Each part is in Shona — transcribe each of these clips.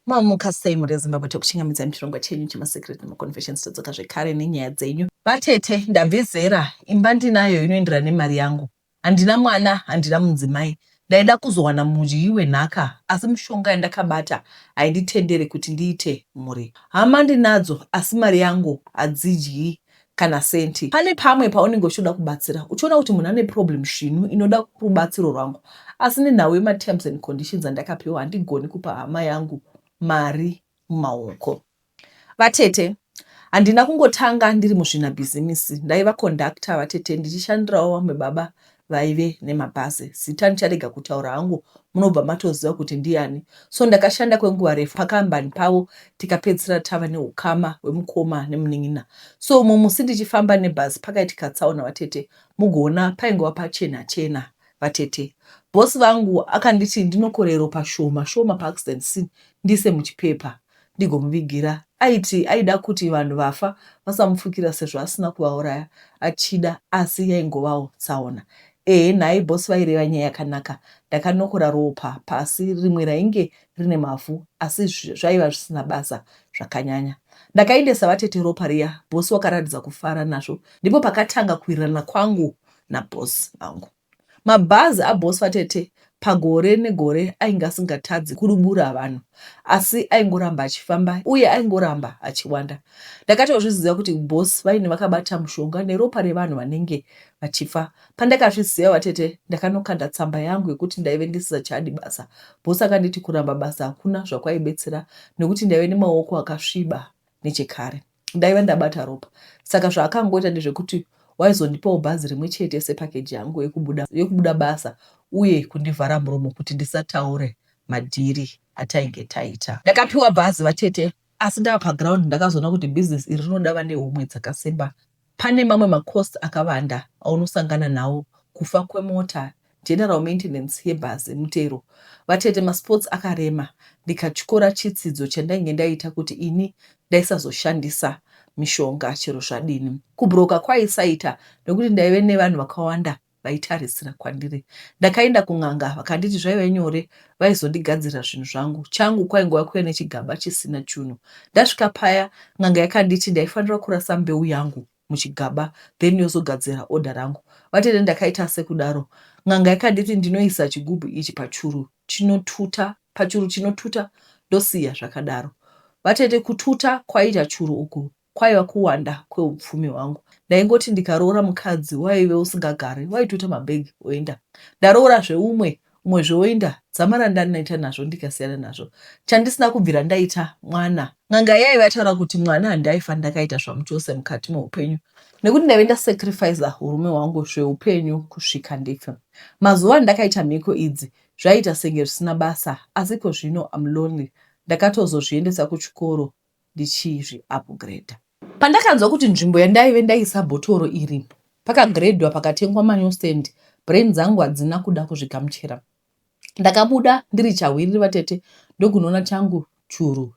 Mamuka sei mhuri yeZimbabwe tokuchingamidza muchirongwa chenyu chemaSecret nemaConfessions todzoka zvekare nenyaya dzenyu. Vatete ndabve zera imba ndinayo inoenderana nemari yangu handina mwana handina munzimai ndaida kuzowana mudyi wenhaka asi mushonga yandakabata hainditendere kuti ndiite mhuri hama ndinadzo asi mari yangu hadzidyi kana senti. Pane pamwe paunenge uchitoda kubatsira uchiona kuti munhu ane problem svinu inoda rubatsiro rwangu asi nenhau yematerms and conditions andakapiwa handigoni kupa hama yangu mari mumaoko. Vatete, handina kungotanga ndiri muzvinabhizimisi, ndaiva conductor vatete ndichishandirawo vamwe baba vaive nemabhazi zita ndicharega kutaura hangu munobva matoziva kuti ndiani so ndakashanda kwenguva refu pakambani pavo tikapedzisira tava neukama hwemukoma nemunin'ina so umwe musi ndichifamba nebhazi pakaitika tsaona vatete mugoona paingova pachena chena vatete bhosi vangu akanditi ndinokorero pashoma shoma paaccident scene ndiise muchipepa ndigomuvigira. Aiti aida kuti vanhu vafa vasamupfukira sezvo asina kuvauraya achida asi yaingovawo tsaona. Ehe nhai boss vaireva nyaya yakanaka. Ndakanokora ropa pasi rimwe rainge rine mavhu asi zvaiva zvisina basa zvakanyanya. Ndakaendesa vatete ropa riya boss wakaratidza kufara nazvo ndipo pakatanga kuwirirana kwangu naboss vangu. Mabhazi aBoss vaTete pagore negore ainge asingatadzi kudubura vanhu asi aingoramba achifamba uye aingoramba achiwanda. Ndakatozviziva kuti Boss vainge vakabata mushonga neropa revanhu vanenge vachifa. Pandakazviziva vaTete ndakanokanda tsamba yangu yekuti ndaive ndisisachadi basa. Boss akanditi kuramba basa hakuna zvakwaibetsera nekuti ndaive nemaoko akasviba nechekare. ndaiva ndabata ropa saka zvaakangoita ndezvekuti waizondipawo bhazi rimwe chete sepakeji yangu yekubuda, yekubuda basa uye kundivhara muromo kuti ndisataure madhiri atainge taita. Ndakapiwa bhazi vatete asi ndava paground ndakazoona kuti business iri rinoda vane homwe dzakasimba Pane mamwe macosts akavanda aunosangana nawo kufa kwemota, general maintenance yebhazi, mutero, vatete, masports akarema ndikatyora chitsidzo chandainge ndaita kuti ini ndaisazoshandisa mishonga chero zvadini. Kubroker kwaisaita nekuti ndaive nevanhu vakawanda vaitarisira kwandiri. Ndakaenda kun'anga vakanditi zvaive nyore vaizondigadzirira zvinhu zvangu. Changu kwaingova kuve nechigaba chisina chunhu. Ndasvika paya n'anga yakanditi ndaifanira kurasa mbeu yangu muchigaba then yozogadzira oda rangu. Vatete ndakaita sekudaro. N'anga yakanditi ndinoisa chigubhu ichi pachuru chinotuta pachuru chinotuta ndosiya zvakadaro. Vatete kututa kwaita churu uku Kwaiva kuwanda kweupfumi hwangu. Ndaingoti ndikaroora mukadzi waive usingagari waitoita mabag oenda. Ndaroorazve umwe, umwezve oenda. Dzamara ndandaita nazvo ndikasiyana nazvo. Chandisina kubvira ndaita mwana. N'anga yaive yataura kuti mwana handaifa ndakaita zvamuchose mukati meupenyu nekuti ndaive ndasacrificer urume hwangu zveupenyu kusvika ndife. Mazuva andakaita mhiko idzi zvaiita senge zvisina basa asi ikozvino I'm lonely. Ndakatozozviendesa kuchikoro ndichizvi upgrader. Pandakanzwa kuti nzvimbo yandaive ndaisa bhotoro iri pakagredwa pakatengwa manew stand, brain dzangu hadzina kuda kuzvigamuchira. Ndakabuda ndiri chahwiriri vatete ndokunoona changu churu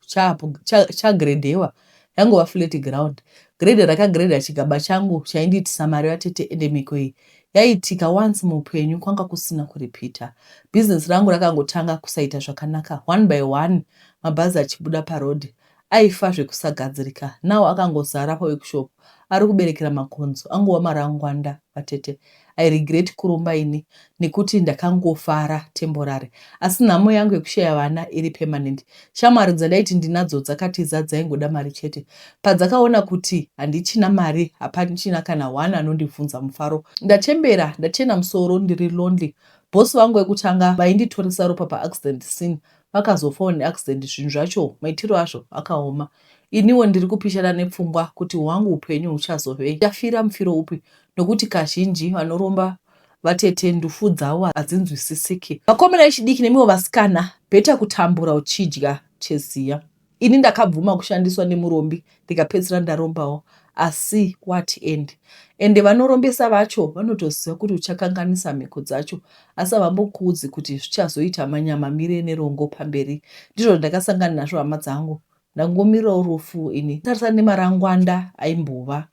chagredhewa cha yangova flat ground. Grade rakagreda chigaba changu chaindiitisa mari vatete ende mhiko iyi yaiitika once muupenyu kwanga kusina kurepeater. Business rangu rakangotanga kusaita zvakanaka one by one mabhazi achibuda paroad aifa zvekusagadzirika now akangozara paworkshop ari kuberekera makonzo angova marangwanda vatete. I regret kuromba ini nekuti ndakangofara temporary asi nhamo yangu yekushaya vana iri permanent Shamwari dzandaiti ndinadzo dzakatiza dzaingoda mari chete. Padzakaona kuti handichina mari hapachina kana one anondibvunza mufaro. Ndachembera ndachena musoro ndiri lonely. Boss vangu vekutanga vainditoresa ropa paaccident scene vakazofawo neaccident zvinhu zvacho maitiro azvo akaoma. Iniwo ndiri kupishana nepfungwa kuti hwangu upenyu huchazovei. Ndichafira mufiro upi nokuti kazhinji vanoromba Vatete ndufu dzavo hadzinzwisisiki. Vakomana vechidiki nemiwo vasikana beta kutambura uchidya cheziya. Ini ndakabvuma kushandiswa nemurombi ndikapedzisira ndarombawo asi what end ende vanorombesa vacho vanotoziva kuti uchakanganisa mhiko dzacho asi havambokuudzi kuti zvichazoita manyama mire nerongo pamberi ndizvo zvandakasangana nazvo hama dzangu Ndangomirawo rufu ini tarisa nemarangwanda aimbova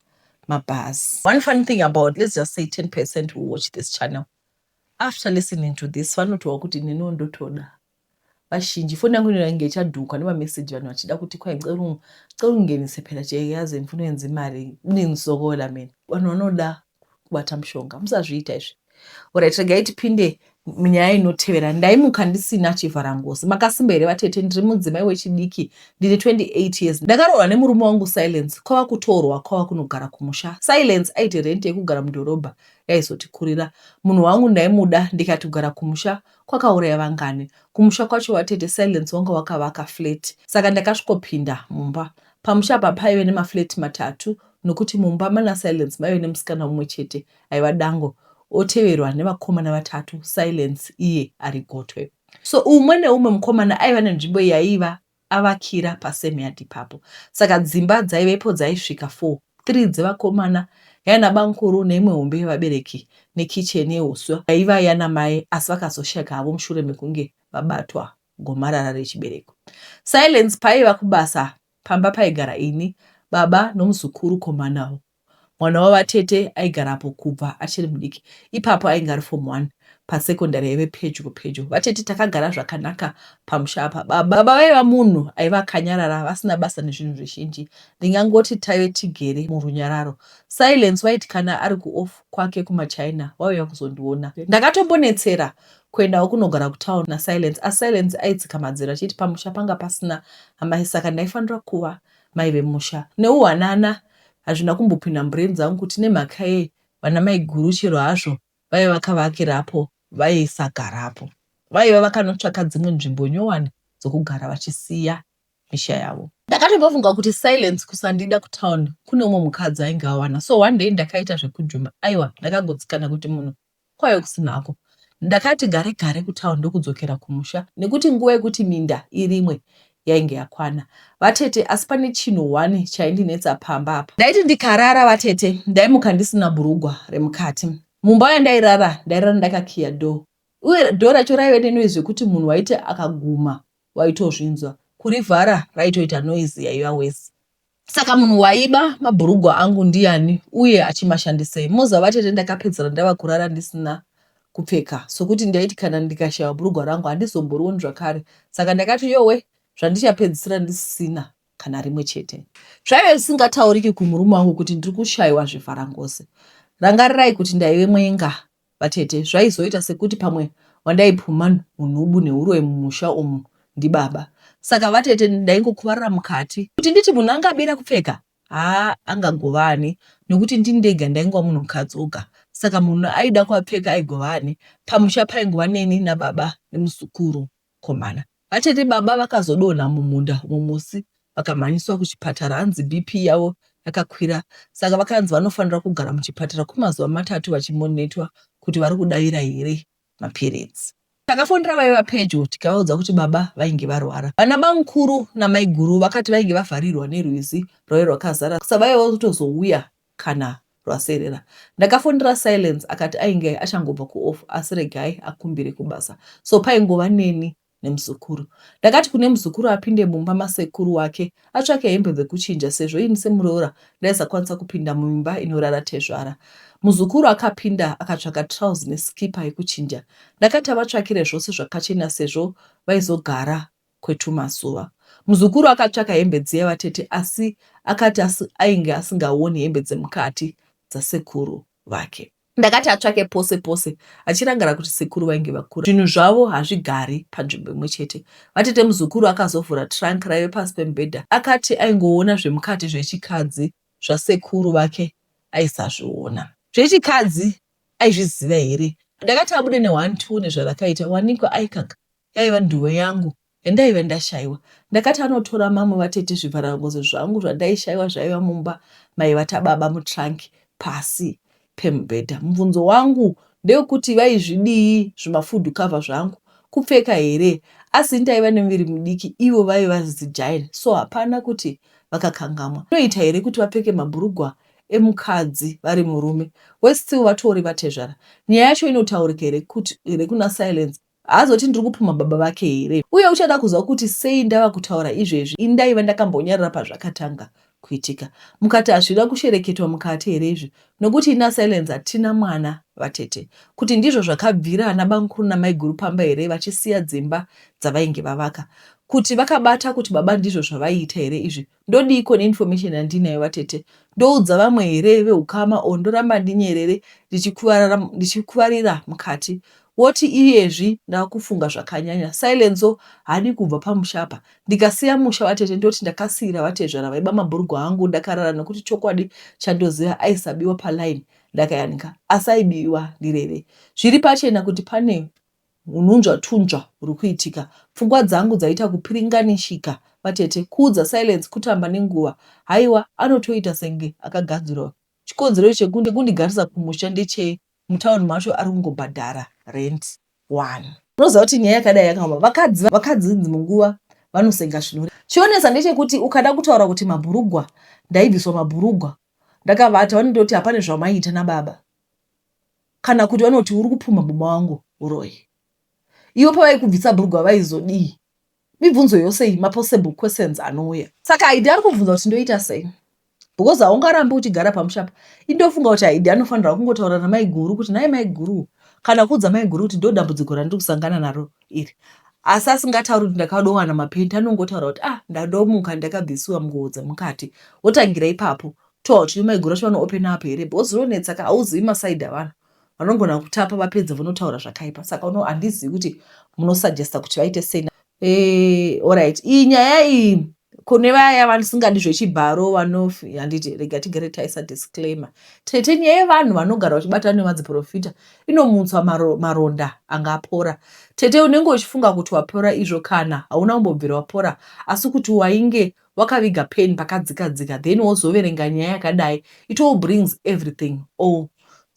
mabhazi. One funny thing about let's just say 10% who watch this channel after listening to this vanotowa kuti neniwo ndotoda vazhinji foni yangu inoda inge ichadhuka nemameseji vanhu vachida kuti kwai ceru ceru ngenise phela cheyazi influence imari ndinzokola mene vanhu vanoda kubata mushonga musazviita izvi orit regai tipinde munyaya inotevera ndaimuka ndisina chivharangozi makasimba here vatete ndiri mudzimai wechidiki ndine 28 years ndakaroorwa nemurume wangu silence kwava kutorwa kwava kunogara kumusha silence aiti rent yekugara mudhorobha yaizotikurira munhu wangu ndaimuda ndikati kugara kumusha kwakauraya vangani kumusha kwacho vatete silence wanga wakavaka flat saka ndakasvikopinda mumba Pamusha apa paive nemaflat matatu nokuti mumba mana Silence maive nemusikana mumwe chete aiva Dango oteverwa nevakomana vatatu Silence iye ari gotwe. So umwe neumwe mukomana aiva nenzvimbo yaiva avakira pasame yard ipapo. Saka dzimba dzaivepo dzaisvika four, three dzevakomana, yana bamkuru neimwe hombe yevabereki nekitchen yeuswa yaiva yana mai asi vakazosheka havo mushure mekunge vabatwa gomarara rechibereko. Silence paiva kubasa pamba paigara ini, baba nomuzukuru komba navo. Mwana wavatete aigarapo kubva achiri mudiki. Ipapo ainge ari form one pasekondari yaive pedyo pedyo. Vatete takagara zvakanaka pamusha apa. Baba vaiva munhu aiva akanyarara vasina basa nezvinhu zvizhinji. Ndingangoti taive tigere murunyararo. Silence waiti kana ari kuoff kwake kumaChina waiuya kuzondiona. Ndakatombonetsera Kuendawo kunogara kutown naSilence asi Silence aitsika madziro achiti pamusha panga pasina amai saka ndaifanira kuva mai vemusha. Neuwanana hazvina kumbopinda mubrain dzangu kuti nemhaka yei vana maiguru chero hazvo vaiva vakavakirapo vaisagarapo. Vaiva vakanotsvaka dzimwe nzvimbo nyowani dzokugara vachisiya misha yavo. Ndakatombofunga kuti Silence kusandida kutown kune umwe mukadzi ainge awana so one day ndakaita zvekujuma aiwa ndakagotsikana kuti munhu kwayo kusinako. Ndakati gare gare kutown ndokudzokera kumusha nekuti nguva yekuti minda irimwe yainge yakwana. Vatete asi pane chinhu one chaindinetsa pamba apa. Ndaiti ndikarara vatete ndaimuka ndisina bhurugwa remukati. Mumba yandairara ndairara ndakakiya door uye door racho raive nenoise yekuti munhu waiti akaguma waitozvinzwa. Kurivhara raitoita noise yaiva worse. Saka munhu waiba mabhurugwa angu ndiani uye achimashandisei? Moza vatete ndakapedzera ndava kurara ndisina kupfeka sokuti ndaiti kana ndikashaiwa bhurugwa rangu handizomborioni zvakare saka ndakati yowe zvandichapedzisira ndisina kana rimwe chete zvaive zvisingatauriki kumurume wangu kuti ndiri kushaiwa zvivharangose rangarirai kuti ndaive mwenga Vatete, zvaizoita sekuti pamwe wandaipumha nhunhubu nehuroyi mumusha umu ndibaba. Saka vatete ndaingokuvarira mukati. Kuti nditi munhu anga abira kupfeka? Haa angagova ani nekuti ndini ndega ndaingova munhukadzi oga. Saka munhu aida kuapfeka aigova ani? Pamusha paingova neni nababa nemuzukuru. mukomana. Vatete baba vakazodonha mumunda umo musi vakamhanyiswa kuchipatara hanzi BP yavo yakakwira saka vakanzi vanofanira kugara muchipatara kwemazuva matatu vachimonetwa kuti vari kudavira here mapiritsi. Takafonera vaiva pedyo tikavaudza kuti baba vainge varwara. Vana bamukuru namaiguru vakati vainge vavharirwa nerwizi rwaive rwakazara saka vaiva kutozouya kana rwaserera. Ndakafonera Silence akati ainge achangobva kuoff asi regai akumbire kubasa so paingova neni nemuzukuru. Ndakati kune muzukuru apinde mumba masekuru wake atsvake hembe dzekuchinja sezvo ini semuroora ndaisakwanisa kupinda muimba inorara tezvara. Muzukuru akapinda akatsvaka trouse nesikipa yekuchinja. Ndakati avatsvakire zvose zvakachena sezvo vaizogara kwetumazuva. Muzukuru akatsvaka hembe dziya vatete asi akati asi, ainge asingaoni hembe dzemukati dzasekuru vake. Ndakati atsvake pose pose achirangara kuti sekuru vainge vakura. Zvinhu zvavo hazvigari panzvimbo imwe chete. Vatete muzukuru akazovhura trunk raive pasi pemubhedha. Akati aingoona zvemukati zvechikadzi zvasekuru vake aisazviona. Zvechikadzi aizviziva here? Ndakati abude nehwani tione zvarakaita wanikwa aikaka Yaiva ndiyo yangu yandaive ndashaiwa. Ndakati anotora mamwe vatete zvivharangozi zvangu zvandaishaiwa zvaiva mumba maiva tababa mutrunk pasi pemubhedha. Mubvunzo wangu ndewekuti vaizvidii zvimafood cover zvangu? Kupfeka here? Asi ndaiva nemuviri mudiki ivo vaiva zigiant so hapana kuti vakakangamwa. Zvinoita here kuti vapfeke mabhurugwa emukadzi vari murume? Worse still vatori vatezvara. Nyaya yacho inotaurika here kuna Silence? Haazoti ndiri kupumha baba vake here? Uye uchada kuziva kuti sei ndava kutaura izvezvi, ini ndaiva ndakambonyarara pazvakatanga kuitika. Mukati hazvina kushereketwa mukati here izvi? Nokuti ini naSilence hatina mwana, vatete. Kuti ndizvo zvakabvira ana bamukuru namaiguru pamba here vachisiya dzimba dzavainge vavaka? Kuti vakabata kuti baba ndizvo zvavaiita here izvi? Ndodiiko neinformation yandinayo vatete? Ndoudza vamwe here vehukama or ndoramba ndinyerere ndichikuvarira mukati? Woti iyezvi ndakufunga zvakanyanya. Silenso haadi kubva pamusha apa. Ndikasiya musha vatete ndoti ndakasiira vatezvara vaiba mabhurugwa angu ndakarara nekuti chokwadi chandoziva aisabiwa paline ndakayanika asi aibiwa ndirere. Zviri pachena kuti pane Hununzva tunzva huri kuitika. Pfungwa dzangu dzaita kupiringanishika. Vatete. Kuudza Silence kutamba nenguva. Haiwa anotoita senge akagadzirwa. Chikonzero chekunge kundigarisa kumusha ndechei mutown macho ari kungobhadhara rent wani. Unoziva kuti nyaya yakadai yakaoma. Vakadzi vakadzi dzimwe nguva vanosenga zvino. Chionesa ndechekuti ukada kutaura kuti mabhurugwa ndaibviswa mabhurugwa ndakavata vanondoti hapane zvamaiita nababa. kana kuti vanoti uri kupumha muma wangu uroyi ivo pavaikubvisa brugwa vaizodii mibvunzo yose iyi mapossible questions anouya saka aidi ari kubvunza kuti ndoita sei because haungarambi uchigara pamushapa indofunga kuti aidi anofanira kungotaura namaiguru kuti nai maiguru kana kuudza maiguru kuti ndodambudziko randiri kusangana naro iri asi asingatauri kuti ndakadowana mapenti anongotaura kuti ah ndadomuka ndakabvisiwa nguo dzemukati wotangira ipapo Tot, iwe maiguru vacho vanoopena apo here because zvinonetsa ka hauzivi masaidi avanhu vanogona kutapa vapedza vonotaura zvakaipa saka uno handizivi kuti munosuggesta kuti vaite sei Eh, orit iyi nyaya iyi kune vaya vanisingadi zvechibharo vanof handiti rega tigere taisa disclaimer tete nyaya yevanhu vanogara vachibatana nemadziprofita inomutswa maro, maronda anga apora tete unenge uchifunga kuti wapora izvo kana hauna kumbobvira wapora asi kuti wainge wakaviga pen pakadzika dzika then wozoverenga nyaya yakadai it all brings everything all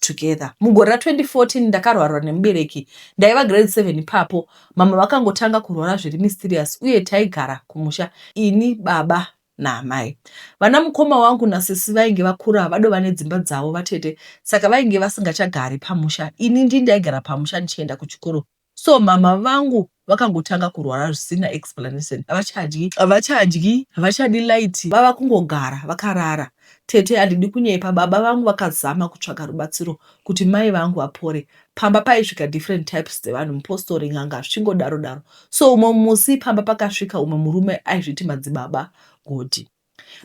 together mugore ra 2014 ndakarwarwa nemubereki ndaiva grade 7 ipapo mama vakangotanga kurwara zviri mysterious uye taigara kumusha ini baba naamai vana mukoma wangu nasisi vainge vakura vadova nedzimba dzavo vatete saka vainge vasingachagari pamusha ini ndii ndaigara pamusha ndichienda kuchikoro So mama vangu vakangotanga kurwara zvisina explanation. Havachadyi, havachadyi, havachadi light, vava kungogara vakarara. Tete handidi kunyepa, baba vangu vakazama kutsvaga rubatsiro kuti mai vangu vapore. Pamba paisvika different types dzevanhu, mupostori, n'anga zvichingodaro daro. So umwe musi pamba pakasvika umwe murume aizviti Madzibaba Godhi.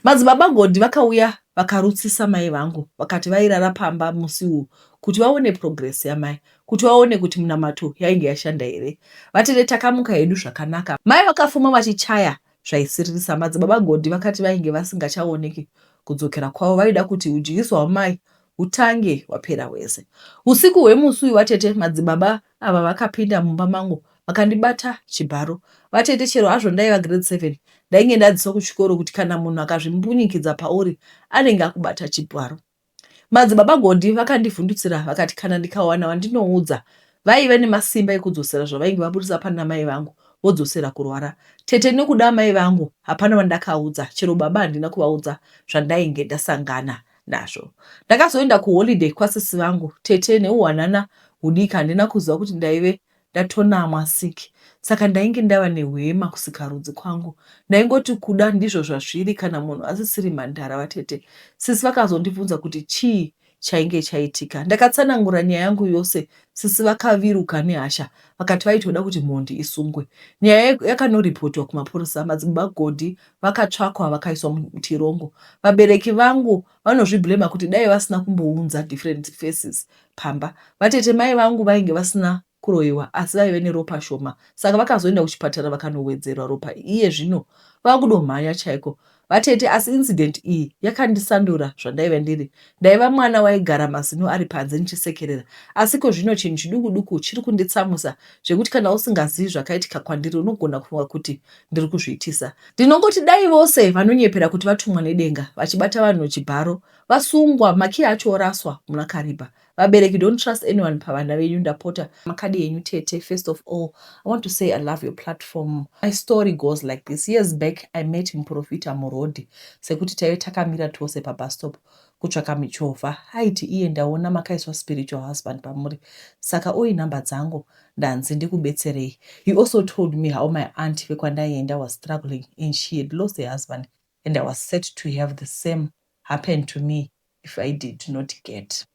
Madzibaba Gondi vakauya vakarutsisa mai vangu vakati vairara pamba musi uyu kuti vaone progress yamai kuti vaone kuti munamato yainge yashanda here. Vatete takamuka hedu zvakanaka. Mai vakafuma vachichaya zvaisiririsa. Madzibaba Gondi vakati vainge vasingachaoneki kudzokera kwavo vaida kuti hudyiso hwamai hutange hwapera hwese. Husiku hwemusi uyu vatete madzibaba ava vakapinda mumba mangu vakandibata chibharo. Vatete chero hazvo ndaiva grade seven ndainge ndadzidziswa kuchikoro kuti kana munhu akazvimbunyikidza pauri anenge akubata chibharo. Madzibaba Gondi vakandivhundutsira vakati kana ndikawana wandinoudza vaiva nemasimba ekudzosera zvavainge vaburitsa pana mai vangu vodzosera kurwara. Tete nekuda amai vangu hapana vandakaudza chero baba handina kuvaudza zvandainge ndasangana nazvo. Ndakazoenda kuholiday kwasisi vangu tete neuwanana hudiki handina kuziva kuti ndaive ndatonamwa sick saka ndainge ndava nehwema kusikarudzi kwangu ndaingoti kuda ndizvo zvazviri kana munhu asisiri mhandara vatete sisi vakazondibvunza kuti chii chainge chaitika ndakatsanangura nyaya yangu yose sisi vakaviruka nehasha vakati vaitoda kuti mhondi isungwe nyaya yakanoripotiwa kumapurisa madzibaba godhi vakatsvakwa vakaiswa mutirongo vabereki vangu vanozviblema kuti dai vasina kumbounza different faces pamba vatete mai vangu vainge vasina kuroiwa asi vaive neropa shoma saka vakazoenda kuchipatara vakanowedzerwa ropa iye zvino vakudomhanya chaiko vatete asi incident iyi yakandisandura zvandaive ndiri Ndaiva mwana waigara mazino ari panze ndichisekerera, asi ko zvino chinhu chiduku-duku chiri kunditsamwisa zvekuti kana usingazivi zvakaitika kwandiri unogona kufunga kuti ndiri kuzviitisa. Ndinongoti dai vose vanonyepera kuti vatumwa nedenga vachibata vanhu nechibharo vasungwa, makiyi acho oraswa muna Kariba. Vabereki don't trust anyone pavana venyu ndapota. Makadi enyu tete. First of all, I want to say I love your platform. My story goes like this. Years back, I met Muporofita muroad. sekuti taive takamira tose pabus stop kutsvaka michovha aiti iye ndaona makaiswa spiritual husband pamuri saka oi number dzangu ndanzi ndikubetserei he also told me how my aunt vekwandaienda was struggling and she had lost her husband and i was set to have the same happen to me if i did not get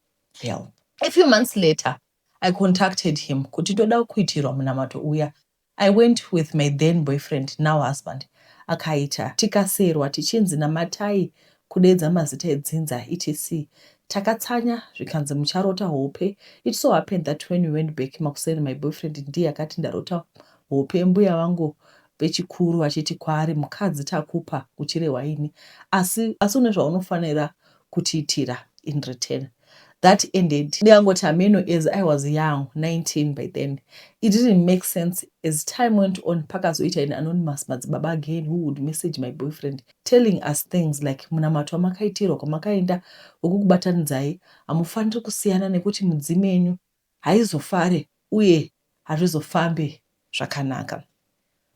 help a few months later i contacted him kuti ndoda kuitirwa munamato uya I went with my then boyfriend now husband akaita tikaserwa tichinzi namatai kudeedza mazita edzinza etc takatsanya zvikanzi mucharota hope it so happened that when we went back makuseni my boyfriend ndiye akati ndarota hope mbuya vangu vechikuru vachiti kwaari mukadzi takupa uchirehwa ini asi asi une zvaunofanira kutiitira in return that ended ndikangoti hameno as I was young 19 by then it didn't make sense as time went on pakazoita in anonymous madzibaba again who would message my boyfriend telling us things like munamato wamakaitirwa kwamakaenda wekukubatanidzai hamufaniri kusiyana nekuti mudzimu yenyu haizofare uye hazvizofambe zvakanaka.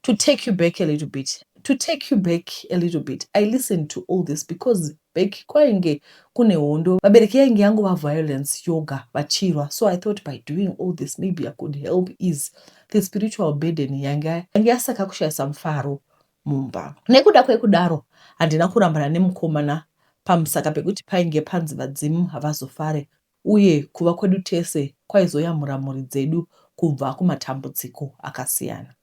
To take you back a little bit, to take you back a little bit, I listened to all this because back kwainge kune hondo, vabereki yainge yangova violence yoga vachirwa, so I thought by doing all this maybe I could help ease the spiritual burden yanga yange yasaka kushayisa mufaro mumba. Nekuda kwekudaro handina kurambana nemkomana pamusaka pekuti painge panzi vadzimu havazofare uye kuva kwedu tese kwaizoyamura mhuri dzedu kubva kumatambudziko akasiyana.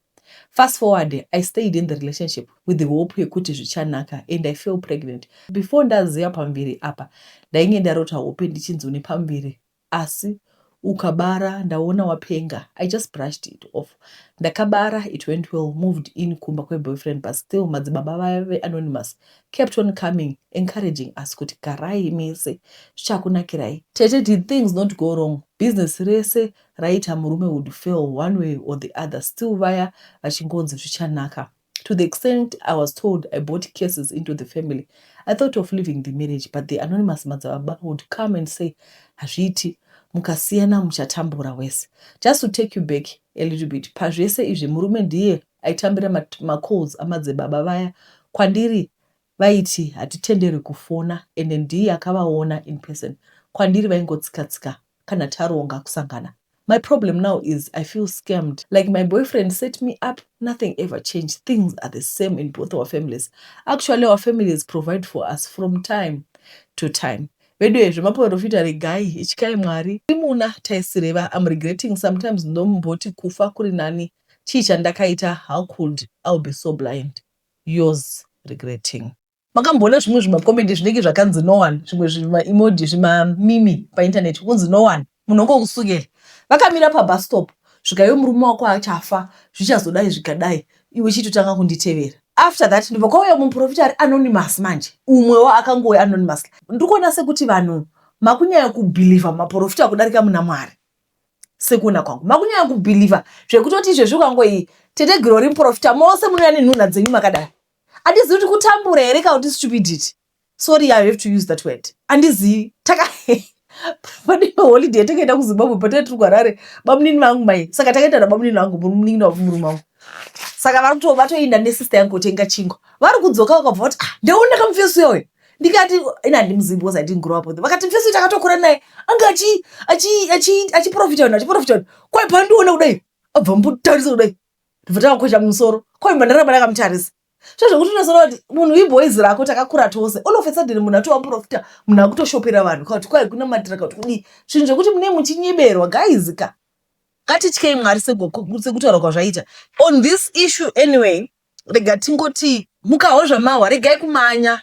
Fast forward, I stayed in the relationship with the hope yekuti zvichanaka and I fell pregnant. Before ndaziva pamuviri apa, ndainge ndarota hope ndichinzi une pamuviri asi ukabara ndaona wapenga i just brushed it off ndakabara it went well moved in kumba kweboyfriend but still madzibaba vaya veanonymous kept on coming encouraging us kuti garai mese zvichakunakirai. Tete did things not go wrong business rese raiita murume would fail one way or the other still vaya vachingonzi zvichanaka to the extent i was told i bought cases into the family i thought of leaving the marriage but the anonymous madzababa would come and say hazviiti mukasiyana muchatambura wese just to take you back a little bit pazvese izvi murume ndiye aitambira macalls amadzibaba vaya kwandiri vaiti hatitenderwi kufona ende ndiye akavaona in person kwandiri vaingotsika tsika kana taronga kusangana my problem now is i feel scammed like my boyfriend set me up nothing ever changed things are the same in both our families actually our families provide for us from time to time veduwe zvemaporofita regai ityai mwari imuna taisireva am regretting sometimes ndomboti kufa kuri nani chii chandakaita how could I'll be so blind yours regretting. Makamboona zvimwe zvimacomedy zvinenge zvakanzi no one zvimwe zvimaemoji zvimamimi painternet kunzi no one munhu ongokusukela vakamira pabus stop svika iwe murume wako achafa zvichazodai zvikadai iwe chitotanga kunditevera after that ndibva kwauya muprofita ari anonymous manje umwewo akangouya anonymous ndikuona sekuti vanhu makunyaya kubhilivha maprofita kudarika muna mwari sekuona kwangu makunyanya kubhilivha zvekutoti izvezvi ukangoyi tete girori muprofita mose munouya nenhunha dzenyu makadai andizivi kuti kutambura here kana kuti stupidity sorry i have to use that word andizivi taka pane holiday takaenda kuzimbabwe patai tiri kuharare bamunini vangu mai saka takaenda nabamunini vangu munin'ina wavo murume wangu saka vari kuto vatoenda nesister yangu kotenga chingwa vari kudzoka vakabva vati ah, ndaona kamufesi uya uya ndikati ini handimuzivi because i didn't grow up with him vakati mfesi takatokura naye anga achiprofita vanhu achiprofita vanhu kwai pandiona kudai abva mutarisa kudai ndibva takakwesha mumusoro kwai mhandaramba ndakamutarisa so zvekuti unozoona kuti munhu iboys rako takakura tose all of a sudden munhu atovaprofita munhu akutoshopera vanhu kauti kwai kunamatira kauti kudii zvinhu zvekuti mune muchinyeberwa guys ka ngatityei mwari sekutaura kwazvaita on this issue anyway rega tingoti mukawo zvamahwa regai kumanya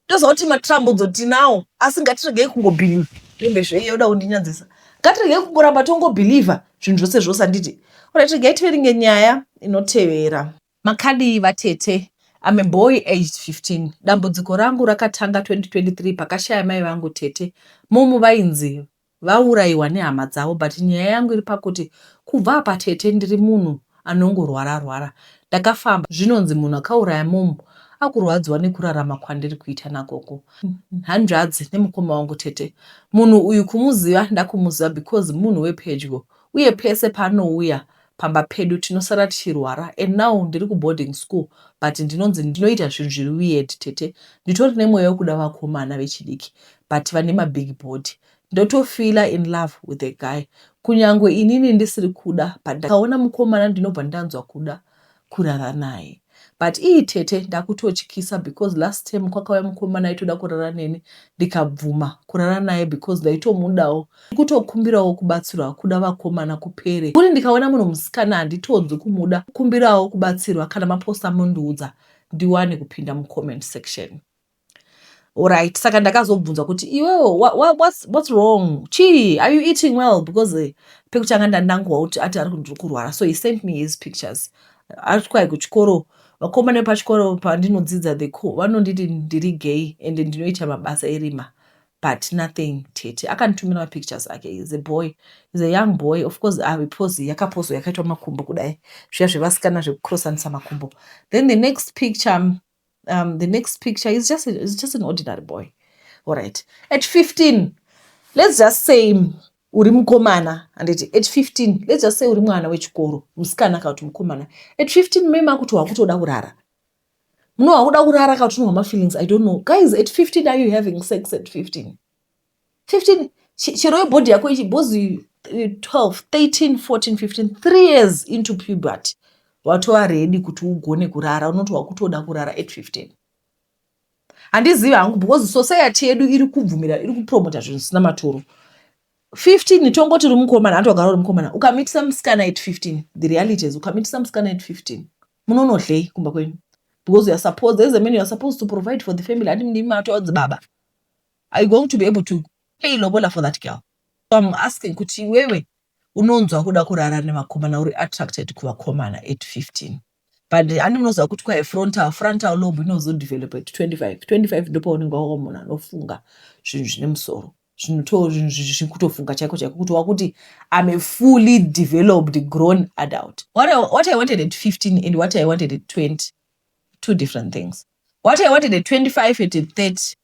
toziva kuti matrambudzo tinawo asi ngatiregei kungobhiliva rembe zveiye uda kundinyadzisa ngatiregei kungoramba tongobhiliva zvinhu zvose zvose handiti orit regai tiveringe nyaya inotevera makadii vatete I'm a boy aged 15 dambudziko rangu rakatanga 2023 pakashaya mai vangu tete mom vainzi vauraiwa nehama dzavo but nyaya yangu iri pakuti kubva apa tete ndiri munhu anongorwara rwara ndakafamba zvinonzi munhu akauraya mom akurwadziwa nekurarama kwandiri kuita nagogo hanzvadzi nemukoma wangu tete munhu uyu kumuziva ndakumuziva because munhu wepedyo uye pese paanouya Pamba pedu tinosara tichirwara and now ndiri kuboarding school but ndinonzi ndinoita zvinhu zviri weird tete. Nditori nemweya wekuda vakomana vechidiki but vane mabig body. Ndotofeeler in love with a guy kunyangwe inini ndisiri kuda but ndikaona mukomana ndinobva ndanzwa kuda kurara naye but ii tete ndakutotyisa because last time kwakauya mukomana aitoda kurara neni ndikabvuma kurara naye because ndaitomudawo kutokumbirawo kubatsirwa kuda vakomana kupere kuri ndikaona munhu musikana handitonzwi kumuda kumbirawo kubatsirwa kana maposta mundiudza ndiwane kupinda mucomment section Alright, saka ndakazobvunzwa kuti iwewo what's, what's wrong chii are you eating well because eh, pekutanga ndandangowa kuti ati ari ndiri kurwara so he sent me his pictures ari kuti kwai kuchikoro vakomana vepachikoro pandinodzidza the co vanonditi ndiri gay and ndinoita mabasa erima but nothing tete akanditumira mapictures ake is a boy is a young boy of course ave ah, pose yakapozo yakaitwa makumbo kudai zviya zvevasikana zvekucrossanisa makumbo then the next picture um, the next picture is just, is just an ordinary boy all right at 15 let's just say uri mukomana handiti at 15 let's just say uri mwana wechikoro musikana kana kuti mukomana at 15 mai makuti wakutoda kurara muno wakuda kurara kana kuti unohwa mafeelings i don't know guys at 15 are you having sex at 15 15 chi- chero yebhodhi yako ichi bhozi eh, 12 13 14 15 3 years into puberty watova ready kuti ugone kurara unoti wakutoda kurara at 15 handizivi hangu because society yedu iri kubvumira iri kupromota zvinhu zvisina maturo 15 tongoti uri mukomana hanti wagara uri mukomana ukamitisa musikana at 15 the reality is ukamitisa musikana at 15 munonodlei kumba kwenyu because you are supposed as a man you are supposed to provide for the family handi ndimi matoadzi baba are you going to be able to pay lobola for that girl so im asking kuti iwewe unonzwa kuda kurara nevakomana uri attracted kuvakomana at 15 but ani unoziva kuti kwaye frontal frontal lob inozodevelop at 25 25 ndopaunenge wava munhu anofunga zvinhu zvine musoro zvinotofunga chaiko chaiko kuti wakuti am a fully developed grown adult what I, what i wanted at 15 and what i wanted at 20 two different things what i wanted at 25 at 30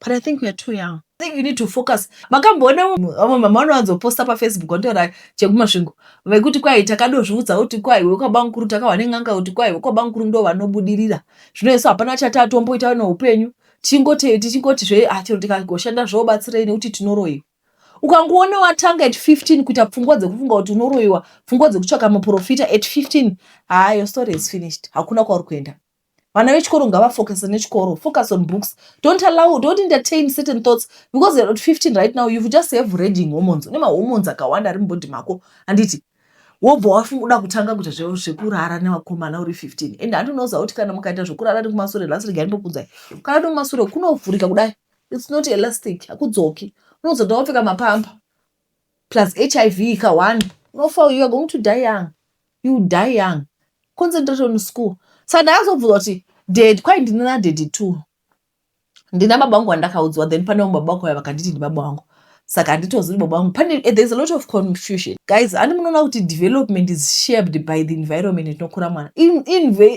But I think we are too young. I think you need to focus. Makamboona vamwe mama vanowanzoposta pafacebook vantaura chekumasvingo vekuti kwai takadozviudza kuti kwai wekwabankuru takahwa nen'anga kuti kwai wekwabankuru ndo vanobudirira zvino isu hapana chati atomboita neupenyu tichingote tichingoti zve ah, chero tikagoshanda zvobatsirei nekuti tinoroiwa ukangoona watanga at 15 kuita pfungwa dzekufunga kuti unoroiwa pfungwa dzekutsvaka muprofita at 15 haa your story is finished hakuna kwauri kuenda vana vechikoro ngavafocuse nechikoro focus on books don't allow don't entertain certain thoughts because you're at 15 right now you've just have raging hormones une mahormones akawanda ari mubody mako handiti wobva wafunguda kutanga kuita zvekurara nevakomana uri 15 and handinoza kuti kana mukaita zvekurara nekumasure last rega ndinokunzai kana nekumasure kunovhurika kudai its not elastic hakudzoki unozoda wapfeka mapamba plus hiv ka one unofa you're going to die young you die young concentrate on school saka ndakazobvunza kuti dad kwai ndine nadady two ndina baba vangu vandakaudzwa then pane vamwe baba vako vaya vakanditi ndibaba vangu saka handitozi kuti baba vangu pane eh, there's a lot of confusion guys handi munoona kuti development is shaped by the environment inokura mwana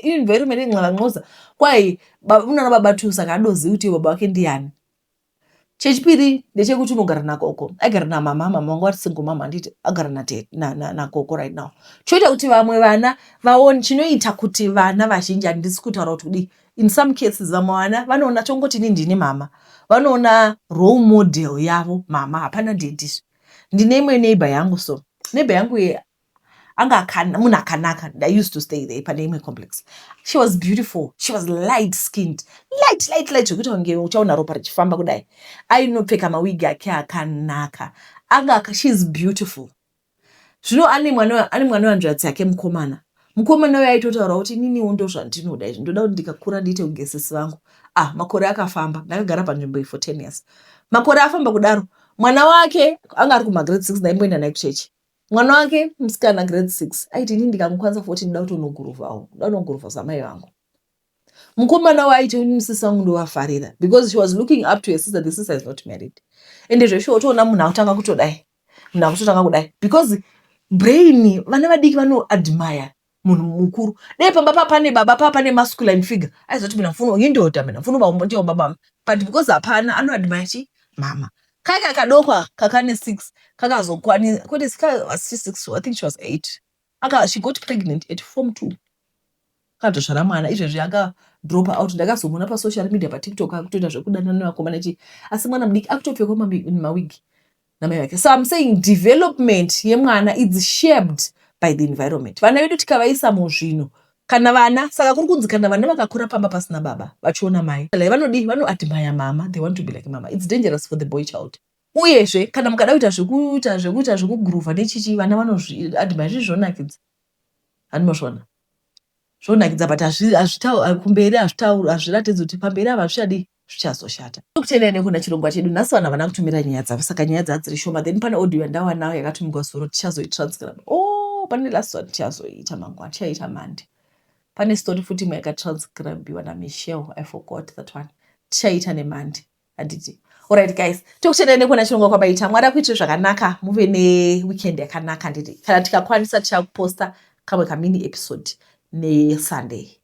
environment inxavanxoza kwai unoona baba two saka adozivi kuti baba vake ndiyani chechipiri ndechekuti unogara nagogo aigara namama mama vangu vari single mama handiti agara nagogo right now choita kuti vamwe vana vaone chinoita kuti vana vazhinji handisi kutaura kuti kudii in some cases vamwe vana vanoona chongoti ini ndini mama vanoona role model yavo mama hapana dedizvo ndine imwe neighbor yangu so neighbor yangu ye anga munhu akanaka i used to stay there pane imwe complex she was beautiful she was light skinned light light light zvekuti wange uchaona ropa richifamba kudai ainopfeka mawigi ake akanaka anga she is beautiful zvino ane mwana ane mwana wanzviradzi yake mukomana mukomana uyo aitotaura kuti ininiwo ndo zvandinoda izvi ndoda kuti ndikakura ndiite kugesesi vangu ah makore akafamba ndakagara panzvimbo iyi for ten years makore afamba kudaro mwana wake anga ari kumagrade six ndaimboenda naye kuchechi mwana wake musikana grade six aiti ini ndikamukwanisa foti ndida kutonoguruvawo nda kunoguruva zamai vangu mukomana waiti ini musisi vangu ndovafarira because she was looking up to her sister the sister is not married ende zveshuwa utoona munhu akutanga kutodai munhu akutotanga kudai because brain vana vadiki vanoadmire munhu mukuru dai pamba paa pane baba paa pane masculine figure aizoti mina mfuno indoda mina mfuno vaumbotiwa baba but because hapana anoadmire chi mama kaka kadoko aka kakane six kakazokwanisa kwete kakasi six i think she was eight aka she got pregnant at form two akatozvara mwana izvezvi aka drop out ndakazomuona pasocial media patiktok akutoita zvekudanana nevakomana chii asi mwana mudiki akutopfekwa mawigi namai vake so im saying development yemwana is shaped by the environment vana vedu tikavaisa muzvinhu kana vana saka kuri kunzi kana vana vakakura pamba pasina baba vachiona mai like vanodii vanoadmire mama they want to be like mama its dangerous for the boy child uyezve kana mukada kuita zvekuita zvekuita zvekuguruvha nechichi vana vanozviadmire zvii zvonakidza hanimozviona zvonakidza but hazvitauri kumberi hazvitauri hazviratidzi kuti pamberi ava hazvichadii zvichazoshata. Tokutenda ine kuna chirongwa chedu nhasi vanhu havana kutumira nyaya dzavo saka nyaya dzaa dziri shoma then pane audio yandawanawo yakatumigwa zuro tichazoitranscribe o oh, pane last one tichazoiita mangwana tichaita mande pane story futi imwe yakatranscribiwa namichel i forgot that one tichaita nemande handiti orit guys tokutenda ine kuna chirongwa kwabaita mwari akuitire zvakanaka muve neweekend yakanaka handiti kana tikakwanisa tichakuposta kamwe kamini episode nesunday